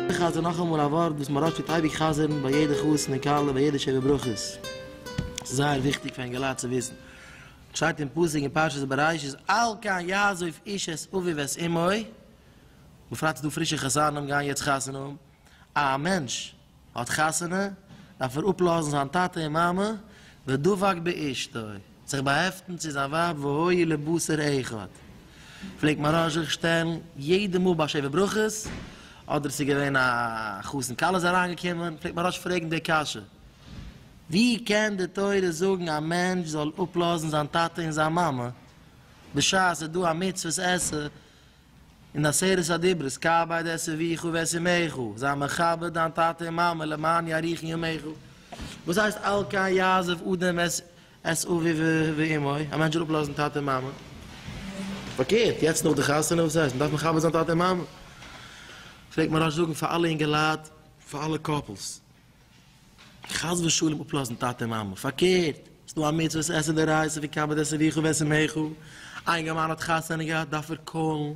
איך חזר נאכאמאל א ווארט וואס מוהרא ש טוט אייביג חזר'ן ביי יעדע חתונה כלה ביי יעדע שבע ברכות, ס'איז זייער וויכטיג פאר אינגעלייט צו וויסן, שטייט אין פסוק אין פרשת בראשית אל כן יעזוב איש את אביו ואת אמו, בפרט ס'דא פרישע חתנים גייען יעצט חתונה האבן, א מענטש האט חתונה דארף ער אפלאזן זיין טאטע און מאמע, ודבק באשתו, זיך באהעפטן צו זיין ווייב והיו לבשר אחד, פלעגט מהרש זיך שטעלן יעדע מאל ביי שבע ברכות, אדער ס'איז געווען א חתן כלה איז אריינגעקומען, פלעגט מהרש פרעגן די קשיא, ווי קען די תורה זאגן א מענטש זאל אפלאזן זיין טאטע און זיין מאמע, בשעת ס'איז דא א מצוות עשה און עשרת הדיברות כבד את אביך ואת אמך, זיי מכבד דיין טאטע און מאמע למען יאריכון ימיך, וואס הייסט על כן יעזב אדם את את אביו ואמו, א מענטש זאל אפלאזן טאטע און מאמע? פארקערט, יעצט נאך די חתונה וואס הייסט מ'דארף מכבד זיין טאטע און מאמע? פלעגט מהרש זאגן פאר אלע אינגעלייט, פאר אלע קאפלס. חס ושלום אפלאזן טאטע מאמע, פארקערט, ס'איז דא א מצוה עס עסען די רייז אויף יקבע את אביך ואת אמך, א אינגערמאן האט חתונה געהאט דארף ער קאלן,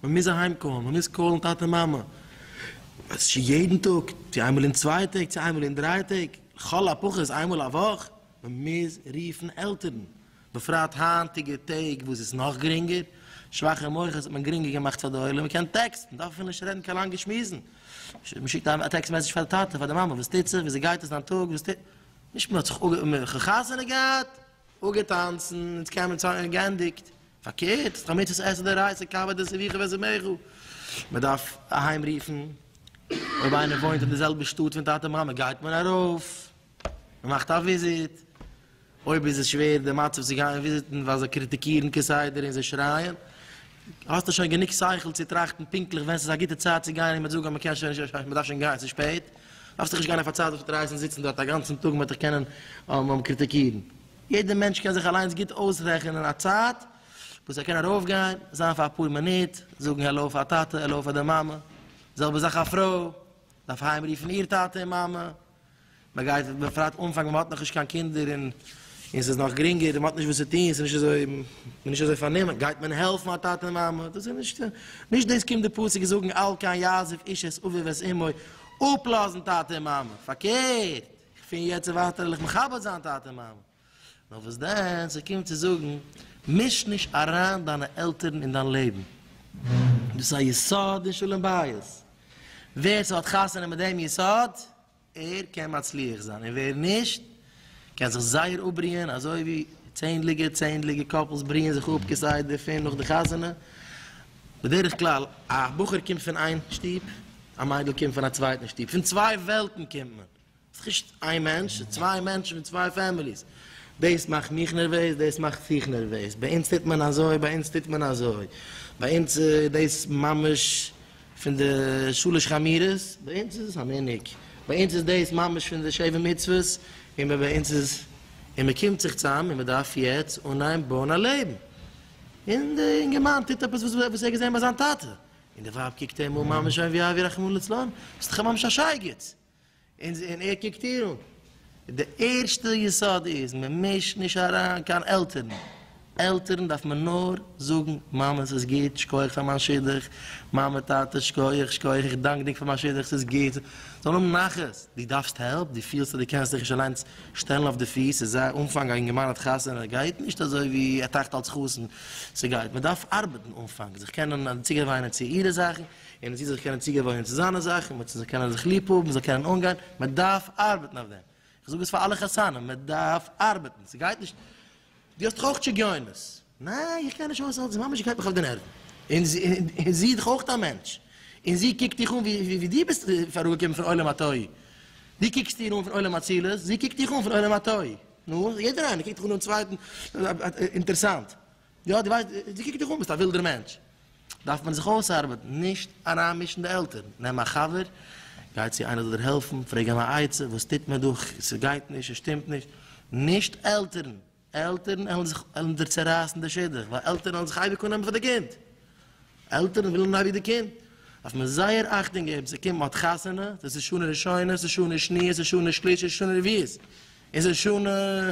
מען מוז אהיים קאלן, מען מוז קאלן טאטע מאמע, צו יעדן טאג, צו איינמאל אין צוויי טעג, צו איינמאל אין דריי טעג, לכל הפחות איינמאל א וואך, מען מוז רופן עלטערן. בפרט היינטיגע טעג וואס איז נאך גרינגער, שוואכע מוחות האט מען גרינגער געמאכט פאר די עולם, מען קען טעקסטן, מען דארף אפילו נישט רעדן קיין לאנגע שמועסן, מען שיקט א טעקסט מעסעדזש פאר די טאטע, פאר די מאמע, וואס טוט זיך, וויאזוי גייט עס, דיין טאג, וואס טוט, נישט מען האט זיך אפ, מען האט חתונה געהאט, אפגעטאנצן, אונז קען מען צאנז, גענדיגט, פארקערט, ס'איז קיין מצוות עשה די רייסע קאווע די סביחה ווען ס'מעכל, מען דארף אהיים רופן, אויב איינער וואוינט אין די זעלבע שטאט פון טאטע מאמע גייט מען ארויף. מען מאכט א וויזיט, אויב איז עס שווער די מצב צו גיין וויזיטן ווייל זיי קריטיקירן כסדר און זיי שרייען, האסטו שוין גענוג שכל צו טראכטן פונקטליך ווען ס'איז א גוטע צייט צו גיין און מ'וועט זאגן אז מ'קען שוין נישט, מ'דארף שוין גיין, ס'איז שפעט, דארפסט דיך נישט גיין אויף א צייט וואס מ'וועט דיך הייסן זיצן דארט א גאנצן טאג און מ'וועט דיך קענען קריטיקירן. יעדער מענטש קען זיך אליינס גוט אויסרעכענען א צייט וואס ער קען ארויפגיין, זיין פאר אפאר מינוט, זאגן העלאו פאר טאטע, העלאו פאר די מאמע, די זעלבע זאך א פרוי דארף אהיימרופן איר טאטע און מאמע, מען גייט בפרט אנפאנג ווען מען האט נאך נישט קיין קינדער און און ס'איז נאך גרינגער און מען האט נישט וואס צו טון ס'איז נישט אזוי מען איז נישט אזוי פארנומען גייט מען העלפן א טאטע און מאמע דאס איז נישט נישט דאס קומט די פסוק און זאגן אל כן יעזוב איש את אביו ואת אמו אפלאזן טאטע און מאמע פארקערט פון יעצט און ווייטער וועל איך מכבד זיין טאטע און מאמע. נאר וואס דען, ס'קומט צו זאגן, מיש נישט אריין דיינע עלטערן אין דיין לעבן, דאס איז א יסוד אין שלום בית, ווער ס'האט חתונה מיט דעם יסוד, ער קען מצליח זיין, און ווער נישט, קען זיך זייער אפבריען, אזוי ווי צענדליגע צענדליגע קאפלס בריען זיך אפ כסדר פון נאך די חתונה, בדרך כלל, א בחור קומט פון איין שטוב, א מיידל קומט פון א צווייטן שטוב, פון צוויי וועלטן קומט מען, נישט איין מענטש, ס'איז צוויי מענטשן פון צוויי פעמיליס. דאס מאכט מיך נערוועז, דאס מאכט זיך נערוועז. ביי אונז טוט מען אזוי, ביי אונז טוט מען אזוי. ביי אונז איז דאס ממש פון די שלש חמירות, ביי אונז איז עס א מנהג. ביי אונז איז דאס ממש פון די שבע מצוות, און ביי אונז איז. און מען קומט זיך צוזאם און מען דארף יעצט אנהייבן בויען א לעבן. און דער אינגערמאן טוט עפעס וואס ער האט געזען ביי זיין טאטע. און די ווייב קוקט אים אן ממש אויף ווי אבי רחמנא לצלן, ביסט דאך ממש א שייגעץ! און ער קוקט איר אן. די ערשטע יסוד איז, מען מישט נישט אריין קיין עלטערן. עלטערן דארף מען נאר זאגן, מאמע ס'איז גוט, שקויעך פאר מיין שידוך, מאמע טאטע שקויעך, שקויעך, איך דאנק דיק פאר מיין שידוך, ס'איז גוט, זיי זאלן האבן נחת. דו דארפסט העלפ, דו פילסט אז דו קענסט דיך נישט אליינס שטעלן אויף די פיס, ס'איז א אנפאנג, א אינגערמאן האט חתונה, גייט נישט אזוי ווי ער טראכט אלס חתן, ס'גייט, מען דארף ארבעטן אנפאנג, זיך קענען צוגעוויינען צו אירע זאכן, און מען זאל זיך קענען צוגעוואוינען צו זיינע זאכן, מען זאל קענען זיך ליב האבן, מען זאל קענען אנגיין, מען דארף ארבעטן אויף דעם, איך זאג עס פאר אלע חתנים, מען דארף ארבעטן, ס'גייט נישט, דו האסט דאך אויך שגיונות, ניין איך גיי נישט אויס אלץ, די מאמע גייט מיך אויף די נערוון, און זי איז דאך אויך א מענטש, און זי קוקט דיך אן ווי דו ביסט אראפגעקומען פון עולם התוהו, דו קוקסט איר אן פון עולם האצילות, זי קוקט דיך אן פון עולם התוהו, נו, יעדער איינער קוקט דאך אן דעם צווייטן אינטערסאנט. יא דו ווייסט, דו קוקט דיך אן ביסט א ווילדער מענטש, דארף מען זיך אויסארבעטן, נישט אריינמישן די עלטערן, נעם א חבר, גיי צו איינער זאל דיר העלפן, פרעג אים א עצה, וואס טוט מען דא, ס'גייט נישט, ס'שטימט נישט, נישט עלטערן, עלטערן עלן זיך עלן דיר צערייסן די שידוך, ווייל עלטערן עלן זיך אייביג אננעמען פאר די קינד, עלטערן ווילן אייביג די קינד, דארף מען זייער אכטונג געבן, ס'קומט מען האט חתונה, דאס איז שנה ראשונה, ס'איז שנה שניה, ס'איז שנה שלישית, ס'איז שנה רביעית, און ס'איז שנה.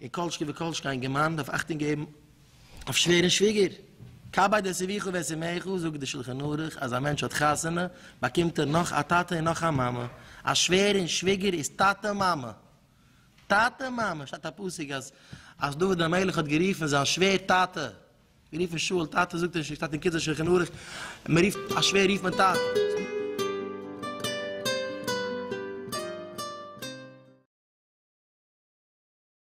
און כל שכן וכל שכן אין געמיינדע דארף אכטונג געבן אויף שווער און שוויגער, כבד את אביך ואת אמך, זאגט דער שלחן ערוך אז א מענטש האט חתונה באקומט ער נאך א טאטע און נאך א מאמע, א שווער און שוויגער איז טאטע מאמע, טאטע מאמע, שטייט א פסוק אז אז דוד המלך האט גערופן זיין שווער טאטע, גערופן שאול טאטע, זאגט ער נישט, שטייט אין קיצור שלחן ערוך, מען רופט א שווער רופט מען טאטע.